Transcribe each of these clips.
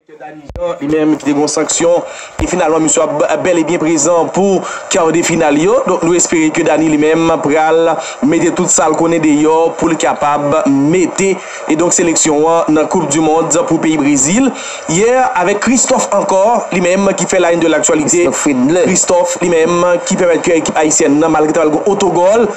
Direktè Dany Jean li menm ki te gen yon sanksyon e finalman misye ap bèl e byen prezan pou kar de final yo. Donk nou espere ke Dany li menm pral mete tout sa l konnen deyò pou l kapab mete e donk seleksyon an nan koup du mond pou peyi Brezil. Yè avèk Christophe ankò li menm ki fè la une de l'actualité. Christophe li menm ki pèmèt ke ekip ayisyèn nan malgre ta pral gen otogòl,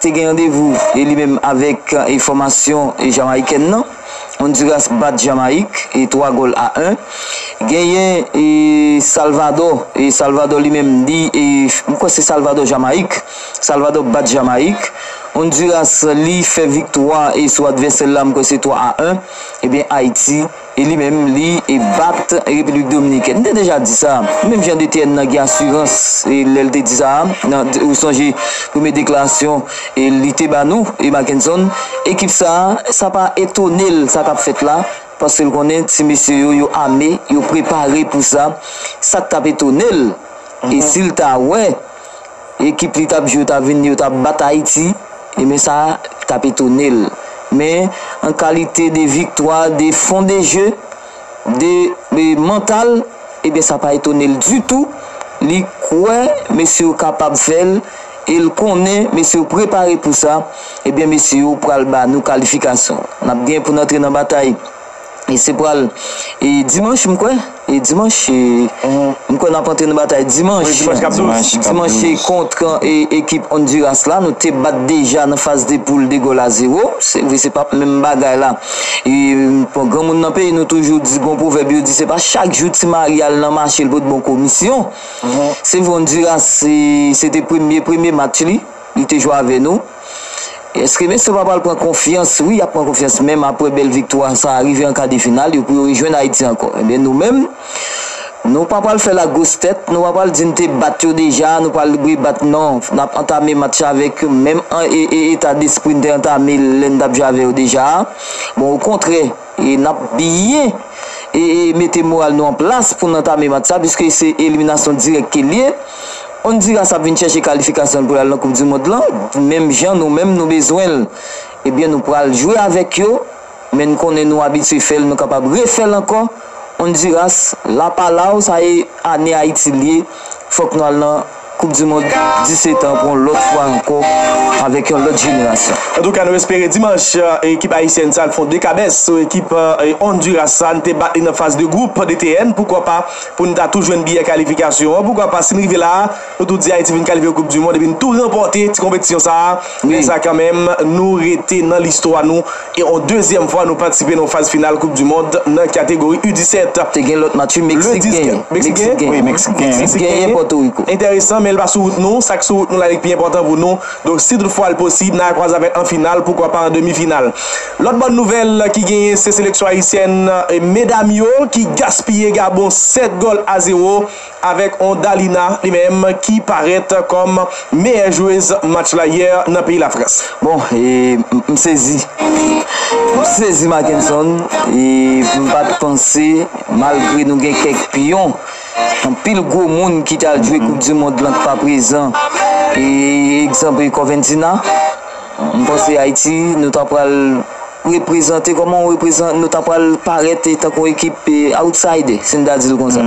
Te gen randevou e li menm avèk e fòmasyon e Jamayikèn nan. Onduras bat Jamayik e 3 gòl a 1. Genyen e Salvadò e Salvadò li menm li e m kwè se Salvadò Jamayik. Salvadò bat Jamayik. Onduras li fè viktwa e sou advèsè l la m kwè se 3 a 1. Ebyen Ayiti. E li menm li bat Repiblik Dominikèn. M te deja di sa. Menm jan Detn nan gen asirans lè l te di sa a. Ou sonje premye deklarasyon li te ba nou, Mackenson. Ekip sa a, sa pa etone l sa k ap fèt la. Paske l konnen ti mesye yo, yo ame, yo prepare pou sa. Sa k t ap etone l, e si l ta wè. ekip li tap jwe ta vin yo tap bat Ayiti e men sa tap etone l men an kalite de viktwa de fon de je de mantal e ben sa pa etone l ditou li kwè mesye yo kapab fè l e l konnen mesye yo prepare pou sa e ben mesye yo pral ba nou kalifikasyon nap gen pou n antre nan batay. e se pral e dimanch m kwè e dimanch e m kwè nap antre nan batay dimanch Wi, dimanch kap 12. Dimanch kap dimanch e 12. kontre e ekip Honduras la nou te bat deja nan faz de poul 2 gòl a 0 se vre se pap menm bagay la e bon granmoun nan peyi nou toujou di gon pwovèb yo di se pa chak jou ti mari al nan mache l pot bon komisyon se vre Honduras se se te premye premye match li li te jwe avè nou. Eske mesye pa pral pran konfyans, wi yap pran konfyans menm aprè bèl viktwa sa rive an kadefinal yo pou yo rejwenn Ayiti ankò enben nou menm nou pa pral fè lagwos tèt nou pa pral di n te bat yo deja nou pa pral rebat non nap antame match avèk yo menm eta despri n te antame l lè n tap jwe avè yo deja a bon okontrè E n ap byen mete moral nou an plas pou n antame match sa piske se eliminasyon dirèk ke l ye. Ondiras ap vin chèche kalifikasyon l pou l al nan koupdimond lan menm jan nou menm nou bezwen l. Ebyen nou pral jwe avèk yo men n konnen nou abitye fè l nou kapab refè l ankò. Ondiras, la palaw, sa e ane Ayiti l ye fòk nou al nan. Koup du mond 17 an pou yon lòt fwa ankò avèk yon lòt jenerasyon. Antouka nou espere dimanch ekip ayisyèn sa al fon dekabès sou ekip Honduras sa n te bat li nan faz de gwoup DTN poukwa pa pou n ta tou jwenn biyè kalifikasyon an poukwa pa si n rive la a nou tou di Ayiti vin kalifye pou koup du mond epi n tou ranpòte ti konpetisyon sa a lè sa kanmenm nou rete nan listwa nou E on dezyèm fwa nou patisipe nan faz final koup du mond nan kategori U17. Te gen lòt match wi Meksik genyen. Meksik genyen? Wi Meksik genyen. Meksik genyen Pòtoriko. Enteresan men li pa sou wout nou, sak sou wout nou la li k pi enpòtan pou nou. Donk si tout fwa l posib nan al kwaze avèk an final poukwa pa an demi final. Lòt bòn nouvèl ki genyen se seleksyon ayisyèn medam yo ki gaspiye Gabon 7 gòl a 0. avèk on Dalina li menm ki parèt kòm meyè jwez match la yè nan peyi Lafrans. Bon e m sezi. M sezi Mackenson e m pa t panse malgre nou gen kèk pyon, anpil gwo moun ki t al jwe koup di mond lan k pa prezan e egzanp Corventina m panse Ayiti nou ta pral reprezante, kòman yon reprezan, nou ta pral parèt tankou yon ekip outsider, si n ta di l konsa.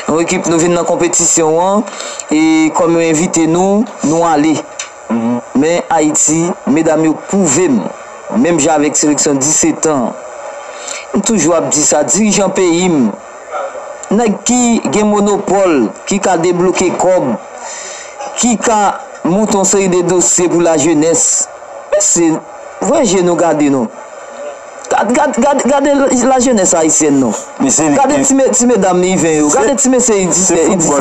Yon ekip nou vin nan konpetisyon an, e kòm yo envite nou, nou ale. Men Ayiti, medam yo pwouve m, menm jan avèk seleksyon 17 an, m toujou ap di sa, dirijan peyi m, nèg ki gen monopòl, ki ka debloke kòb, ki ka monte yon seri de dosye pou lajenès, men se. Vwe je nou gade non. Gade la jenes ayisyèn non. Gade ti medam iven yo. Gade ti mesye i 17 yo.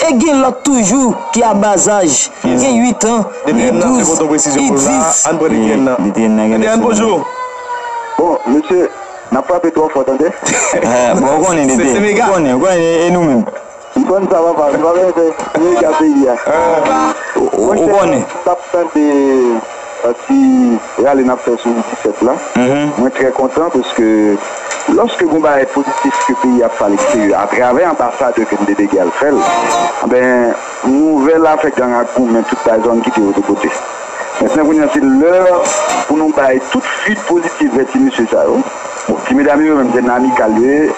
E gen lot toujou ki a bas aj. Gen 8 an, i 12, i 10. Bon mesye nap frape tro fo tande. Bon ou konnen depi. Ou konnen e nou menm. Ou konn sa papa, se pa vle se mega peyi a. Ou konnen. Mwen tap tande ti rale nap fè sou 17 la. Mwen trè kontan paske lòske gon bagay pozitif ke peyi ap fè a leksterye a travè anbasadè ke nou te dege al fèl, anben nouvèl afè gang ak goumen tout bay zòn kite yo de kote. Mentnan kounye a se lè pou nou bay tout suit pozitif vè ti mesye sa yo. Bon ti medam yo yo menm se nan amikal yo ye.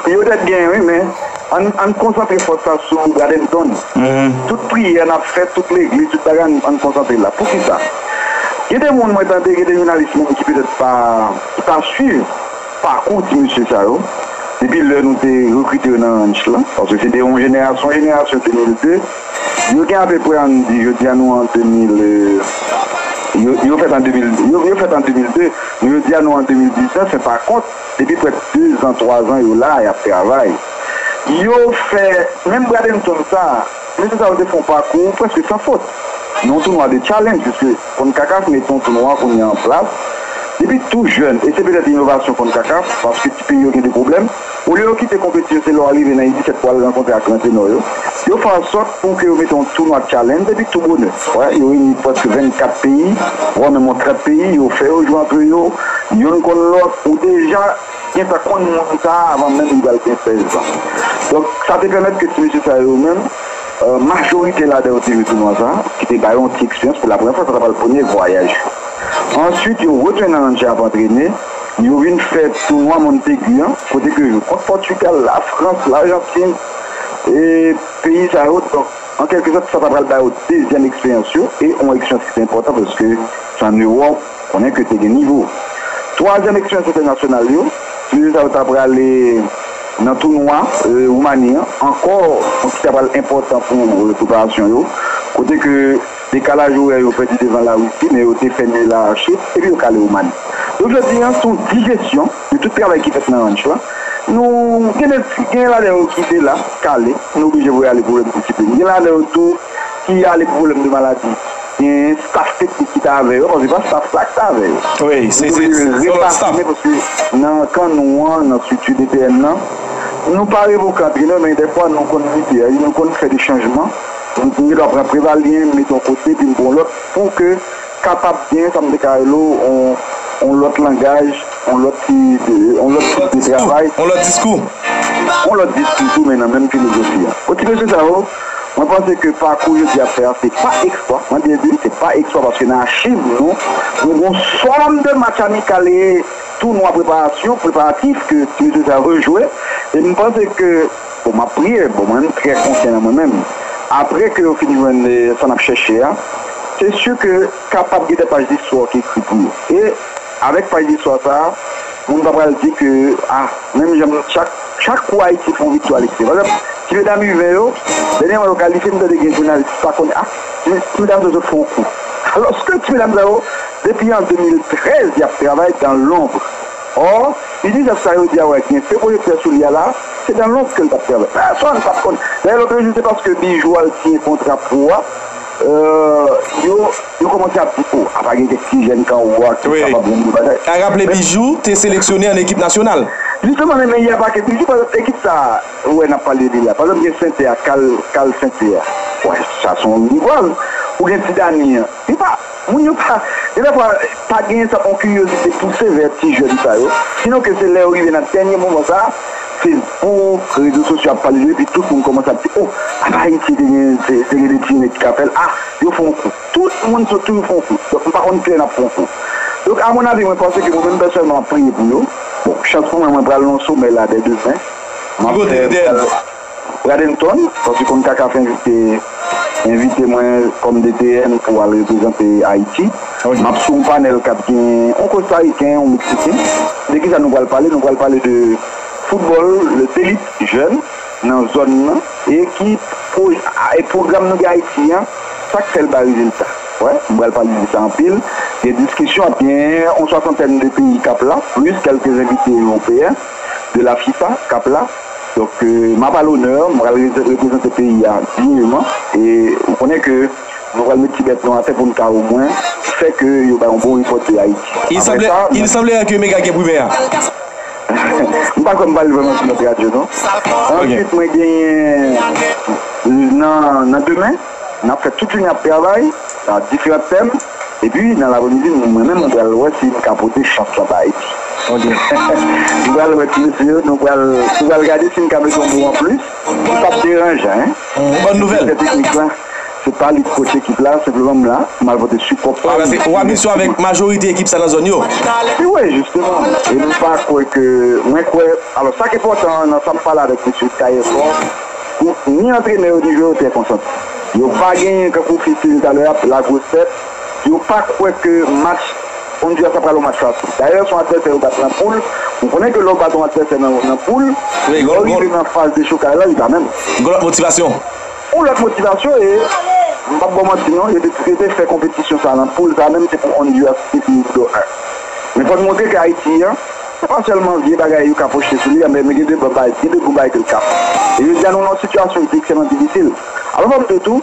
Yo dèt genyen wi men ann konsantre fòs sa sou Bradenton tout priyè nap fè tout legliz tout bagay ann konsantre la poukisa gen de moun mwen tande gen de jounalis menm ki petèt ki pa swiv pakou ti mesye sa yo depi lè nou te rekrite yo nan ranch lan paske se de yon jenerasyon jenerasyon 2002 yo gen apeprè ann di jodia nou an 2000 yo fèt an 2002 nou jodia nou an 2019 se pakont. Depi prè dezan, twazan yo la a y ap travay. Yo fè menm Bradenton sa a. Mesye sa yo te fè yon pakou prèske san fot nan yon tounwa de challenge piske Concacaf mete yon tounwa kounye a an plas depi tou jèn e se petèt inovasyon Concacaf paske ti peyi yo gen de pwoblèm olye yo kite konpeti yo se lè w arive nan U-17 pou w al rankontre ak gran tenò yo yo fè ansòt Pou ke yo mete yon tounwa challenge epi tou bonè wè yo reyini prèske 24 peyi vwa menm yon 30 peyi yo fè yo jwe antre yo yonn konn lòt ou deja gentan konn moun sa avan menm li pral gen 16 zan donk sa te pèmèt ke ti mesye sa yo menm majorite ladan yo te jwe tounwa sa ki te ba yo yon ti eksperyans pou la premyè fwa sa ta pral premye vwayaj yo answit yo retounen nan Angers ap antrene yo vin fè tounwa Montaigu an kote ke yo jwe kont Portugal, la France, l'Argentine e. Peyi sa yo, donk an kèlke zòt sa ta pral ba yo dezyèm eksperyans yo e yon eksperyans ki te enpòtan paske se an Ewòp, konnen ke te gen nivo. Twazyèm eksperyans entènasyonal yo, timoun sa yo ta prale nan tounwa Woumani an ankò, donk ki ta pral enpòtan pou preparasyon yo, kote ke. Dekalaj orè yo pèdi devan Larisi, men yo te pènye Laache epi yo kale Oumani. Don jodi an, sou dijesyon de tout travay ki fèt nan ranch lan, nou gen ladan yo ki de la, kale, nou oblije voye ale pou lòt disiplin. Gen ladan yo tou ki ale pou pwoblèm de maladi. Gen staf teknik ki ta avè yo, paske se pa staf sa a ki ta avè yo. Nou te oblije repafòme paske nan kan nou an, nan estrikti DPN lan, nou pa revoke antre nou, men dèfwa nou konn mite, nou konn fè de chanjman. Pou m fini m ap pran Prevalyen m mete yon kote epi m pran yon lòt pou ke kapab gen sa m te ka rele w yon lòt langaj, yon lòt ti, yon lòt tip de travay. Yon lòt diskou. Yon lòt diskou tou men nan menm filozofi a. Bon ti mesye sa yo, mwen panse ke pakou yo di ap fè a se pa eksplwa, mwen byen di l se pa eksplwa paske nan achiv nou, nou gen yon sòm de match amikal e tounwa preparasyon, preparatif ke ti mesye sa yo jwe e m panse ke. Bon map priye bon mwen menm trè konfyan nan mwen menm aprè ke yo fin jwenn sa nap chèche a se su ke kapab gen de paj listwa ki ekri pou yo e avèk paj listwa sa moun pa pral di ke a menm jan chak chak kou ayiti fon viktwa li se vre ti medam u 20 yo dènyèman yo kalifye m tande gen jounalis ki pa konn a ti medam sa yo sot fon kou alòske ti medam sa yo depi an 2013 yap travay dan lonbr. Or, li di zèv sa yo di a wè gen feu projecteur sou li a la, se dan lonb ke l t ap travay. Pèsonn pa t konn. Dayè lòt jou se paske Bijou al siyen kontra pro a, yo yo kòmanse ap di oh, apa gen kèk ti jèn kan ou a ki kapab yon gwo bagay. A raple Bijou te seleksyone an ekip nasyonal. Jisteman men men yè pa ke Bijou, pa egzanp ekip sa a ou wè n ap pale li la, pa egzanp gen Sente a, Kal Kal Sente a, bon sa s on rival. Ou gen Ti Dani an, yo pa. Moun yo pa, gen dè fwa, pa genyen sa yon kiryozite pouse vè ti jèn sa yo, sinon ke se lè yo rive nan dènye moman sa, Facebook, rezo sosyo ap pale de yo epi tout moun kòmanse ap di, o, apa Ayiti te gen, te gen de ti nèg ki ka fè l, a, yo fè yon kou. Tout moun sòt toujou fè yon kou. Donk m pa konn kilè n ap fè yon kou. Donk a mon avi mwen panse ke mwen menm pèsonèlman m ap priye pou yo. Bon, chans pou mwen mwen pral nan yon somè la dè demen. Ki kote l te? Bradenton, fò ti konn Kaka fè envite mwen kòm DTN pou al reprezante Ayiti. M ap sou yon panèl k ap gen yon Kostariken, yon Meksiken. De kisa nou pral pale? Nou pral pale de foutbòl, le delit jèn nan zòn nan e ki pwogram nou gen Ayiti an, sa k fè l bay rezilta. Wè, m pral pale de sa anpil. Gen diskisyon, ap gen yon swasantèn de peyi k ap la, plis kèlke envite ewopeyen de la fifa k ap la. Donk m ap a lonè, m pral reprezante peyi a digneman e ou konnen ke nou pral met ti bèt nou atè pou n ka omwen fè ke yo bay yon bon repòt de Ayiti. Il semblerait que Mega gen primè a. M pa kwè m pale vrèman sou lòt radyo non. Ansuit mwen genyen nan demen. N ap fè tout jounen ap travay nan diferan tèm epi nan lapremidi mwen menm mwen pral wè si m ka pote chan sanba epi m pral wè ti mesye yo nou pral gade si m ka mete yon mo anplis ki p ap deranjan direktè teknik la se pa li ki kòch ekip la senpleman m la m al pote sipò pa m Ou ap misyon avèk majorite ekip sa nan zòn yo? Wi jisteman e m pa kwè ke mwen kwè alò sa k enpòtan nan sa m pale avèk mesye Tailleur Fort Bon, ni antrenè yo ni jwè yo trè konsan. Yo pa genyen kankou Fils te di talè a, la grosse tête. Yo pa kwè ke match Honduras la pral yon match fasil. Dayè, son advèsè yo bat nan poul. Ou konnen ke lè ou bat yon advèsè nan poul, lè ou rive nan faz dechokaj la, li pa menm. Gon lòt motivasyon. Gon lòt motivasyon e, m pap ba w manti non, yo te prevè fè konpetisyon sa a nan poul sa a menm se pou Honduras te fini 2 a. Men fò n montre ke Ayiti an. Se pa sèlman vye bagay yo ka pwoche sou li an, men gen de bon bagay, gen de gwo bagay ke l kap. E jodi a nou nan yon sitiyasyon ki ekstrèman difisil. Alò fò m di w tou,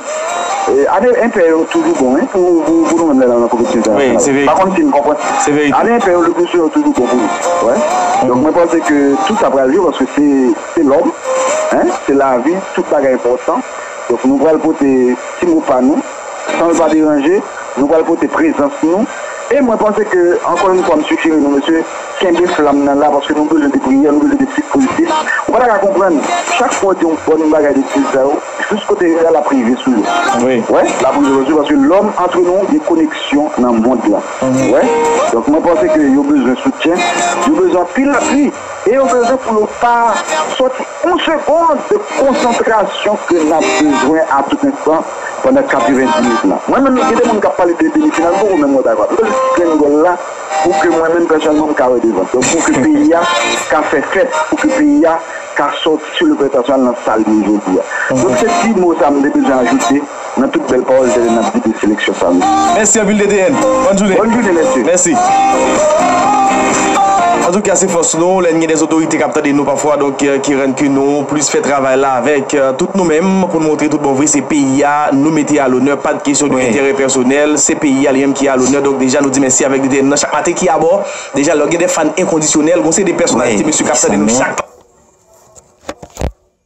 ane enpè yo toujou bon wi pou nou menm lè n al nan konpetisyon entènasyonal. M pa konn si n konprann. Ane enpè yo leplisouvan yo toujou bon pou nou. Wè. Donk mwen panse ke tout sa pral jwe paske se lòm, se lavi, tout bagay enpòtan. Donk nou pral pote ti mo pa nou. San l pa deranje, nou pral pote prezans nou e mwen panse ke ankò yon fwa m sijere nou mesye kenbe flanm nan la paske nou bezwen de priyè, nou bezwen de ti prizip. Ou pa ta ka konprann, chak fwa w di yon bòn bagay de ti sa yo, jous kote yo ye a l ap rive sou yo. Wè, l ap rive sou yo paske lòm antre nan yon dekoneksyon nan mond lan. Wè, donk mwen panse ke yo bezwen soutyen, yo bezwen anpil apui e yo bezwen pou yo pa sòti. On segond de konsantrasyon ke nap bezwen a tout enstan pandan 90 minit lan. Mwen menm gen de moun kap pale de demi final m poko menm wè bagay m bezwen ti grenn gòl la pou ke mwen menm pèsonèlman m ka wè devan. Donk pou ke peyi a ka fè fèt, pou ke peyi a ka sòti sou le plan entènasyonal nan sal ye jodi a. Donk se ti mo sa m te bezwen ajoute. Nan tout bèl pawòl tèlè nap di de seleksyon sa mesye. Mèsi anpil DTN. Bòn jounen. Bòn jounen mesye. Mèsi. Antouka se fòs nou lè n gen de zotorite kap tande nou pafwa donk ki rann ke nou plis fè travay la avèk tout nou menm pou n montre tout bon vre se peyi a nou mete a lonè pat kesyon de enterè pèsonèl se peyi a li menm ki a lonè donk deja nou di mèsi avèk DTN nan chak maten ki abò deja lè w gen de fan enkondisyonèl gon se de pèsonalite mesye kap tande nou chak